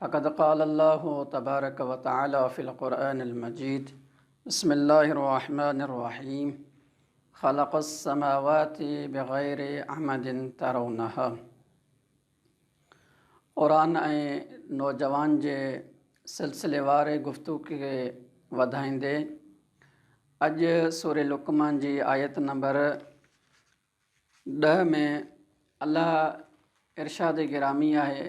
فقد قال الله تبارک و تعالٰي في القرآن المجيد بسم الله الرحمٰن الرحيم خلق السماوات بغير عمد ترونها قرآن ۽ نوجوان جي سلسلي واري گفتگو کي وڌائيندي اڄ سوري لقمان جي آيت نمبر ڏه ۾ الله ارشاد گرامی آهي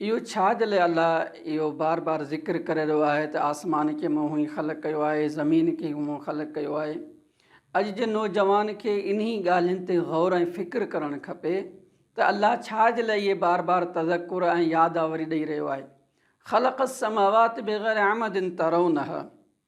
اهو ڇا دل اي الله اهو بار بار ذڪر ڪري رهيو آهي ته آسمان کي مون هئي خلق ڪيو آهي زمين کي هئي مون خلق ڪيو آهي اڄ جي نوجوان کي انهي ڳالهين تي غور ۽ فڪر ڪرڻ کپي ته الله ڇا جي لاء اهي بار بار تذڪر ۽ ياداوري ڏئي رهيو آهي خلق السماوات بغير عمد ترونها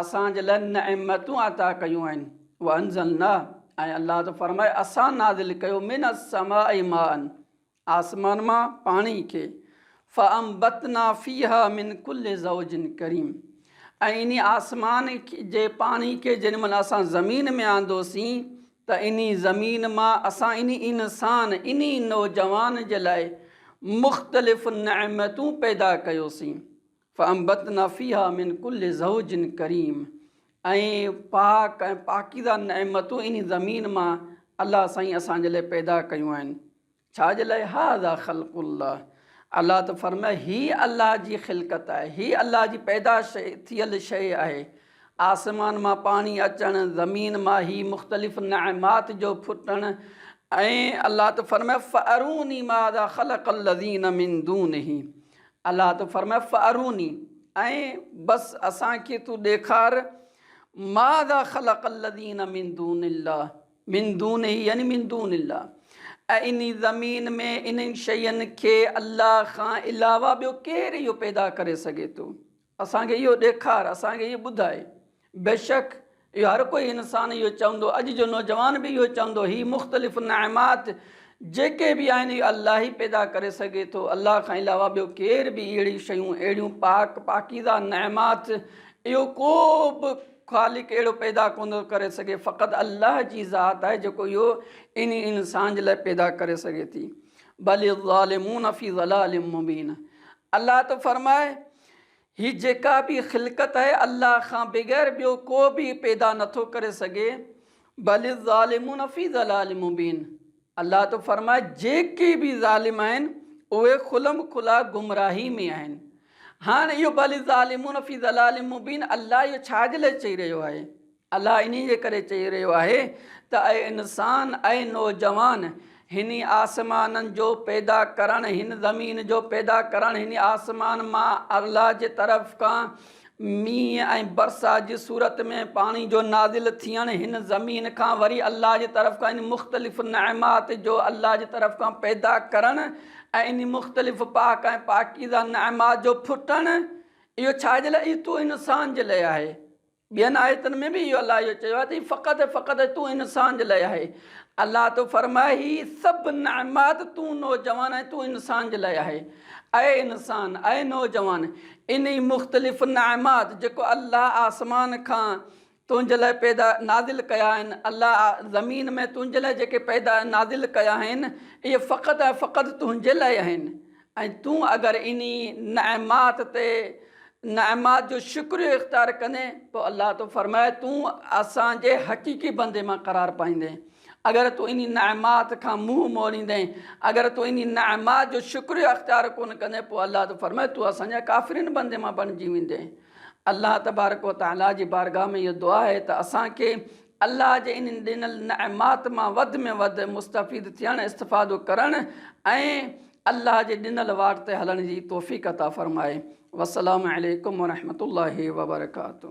اسان جي لاء نعمتون عطا ڪيون آهن وانزلنا ۽ الله ٿو فرمائي اسان نازل ڪيو من السماء ماء آسمان مان پاڻي کي فانبتنا فيها من كل زوج ڪريم ۽ اني آسمان جي پاڻي کي جن مهل اسان زمين ۾ آندوسين ته اني زمين مان اسان اني انسان اني نوجوان جي لاء مختلف نعمتون پيدا ڪيوسين فانبتنا فيها من ڪل زوج ڪريم ۽ پاڪ ۽ پاڪيزه نعمتون انهي زمين مان الله سائين اسان جي لاء پيدا ڪيون آهن. ڇا جي لاء هذا خلق الله الله ته فرمايو هي الله جي خلقت آهي هي الله جي پيدا ٿيل شيء آهي آسمان مان پاڻي اچڻ زمين مان هي مختلف نعمات جو ڦٽڻ ۽ الله ته فرمايو فاروني ماذا خلق الذين من دونه الله ته فرمايو فاروني ۽ بس اسان کي تون ڏيکار ماذا خلق الذين من دون الله من دونه يعني من دون الله ۽ انهي زمين ۾ انهن شين کي الله کان علاوه ٻيو ڪير اهو پيدا ڪري سگهي ٿو اسان کي اهو ڏيکار، اسان کي اهو ٻڌاء. بيشڪ اهو هر ڪوئي انسان اهو چوندو، اڄ جو نوجوان به اهو چوندو، هي مختلف نعمات جيڪي به آهن اهي الله ئي پيدا ڪري سگهي ٿو، الله کان علاوه ٻيو ڪير به اهڙيون شيون، اهڙيون پاڪ، پاڪيزه نعمات اهو ڪو به خالق اهڙو پيدا ڪونه ٿو ڪري سگهي، فقط الله جي ذات آهي جيڪو اهو انهي انسان جي لاء پيدا ڪري سگهي ٿي. بل الظالمون في ضلال مبين الله ٿو فرمائي، هي جيڪا به خلقت آهي الله کان بغير ٻيو ڪو به پيدا نه ٿو ڪري سگهي، بل الظالمون في ضلال مبين، الله ٿو فرمائي جيڪي به ظالم آهن اهي کلم کلا گمراهي ۾ آهن. هاڻ اهو بل الظالمون في ضلال مبين الله اهو ڇا جي لاء چئي رهيو آهي؟ الله انهي جي ڪري چئي رهيو آهي ته اي انسان، اي نوجوان! هني آسمانن جو پيدا ڪرڻ، هن زمين جو پيدا ڪرڻ، هني آسمان مان الله جي طرف کان مينهن ۽ برسات جي صورت ۾ پاڻي جو نازل ٿيڻ، هن زمين کان وري الله جي طرف کان انهي مختلف نعمات جو الله جي طرف کان پيدا ڪرڻ ۽ انهي مختلف پاڪ ۽ پاڪيزه نعمات جو ڦٽڻ، اهو ڇا جي لاء؟ اهو تو انسان جي لاء آهي. ٻين آيتن ۾ به اهو الله اهو چيو آهي ته هي فقط ۽ فقط تون انسان جي لاء آهي. الله ٿو فرمائي هي سڀ نعمات تون نوجوان آهين تون انسان جي لاء آهي. اي انسان! اي نوجوان! انهي مختلف نعمات جيڪو الله آسمان کان تنهنجي لاء پيدا، نازل، ڪيا آهن، الله زمين ۾ تنهنجي لاء جيڪي پيدا ۽ نازل ڪيا آهن اهي فقط ۽ فقط تنهنجي لاء آهن ۽ تون اگر انهي نعمات تي نعمات جو شڪريو اختيار ڪندين پوء الله ٿو فرمائي تون اسان جي حقيقي بندي مان قرار پائيندين اگر تون انهي نعمات کان منهن موڙيندين اگر تون انهي نعمات جو شڪريو اختيار ڪونه ڪندين پوء الله ٿو فرمائي تون اسان جي ڪافرين بندي مان بڻجي ويندين الله تبارڪ وتعالي جي بارگاھ ۾ اهو دعا آهي ته اسان کي الله جي انهن ڏنل نعمات مان وڌ ۾ وڌ مستفيد ٿيڻ، استفادو ڪرڻ ۽ الله جي ڏنل واٽ تي هلڻ جي توفيق عطا فرمائي. والسلام عليڪم ورحمة الله وبرڪاته.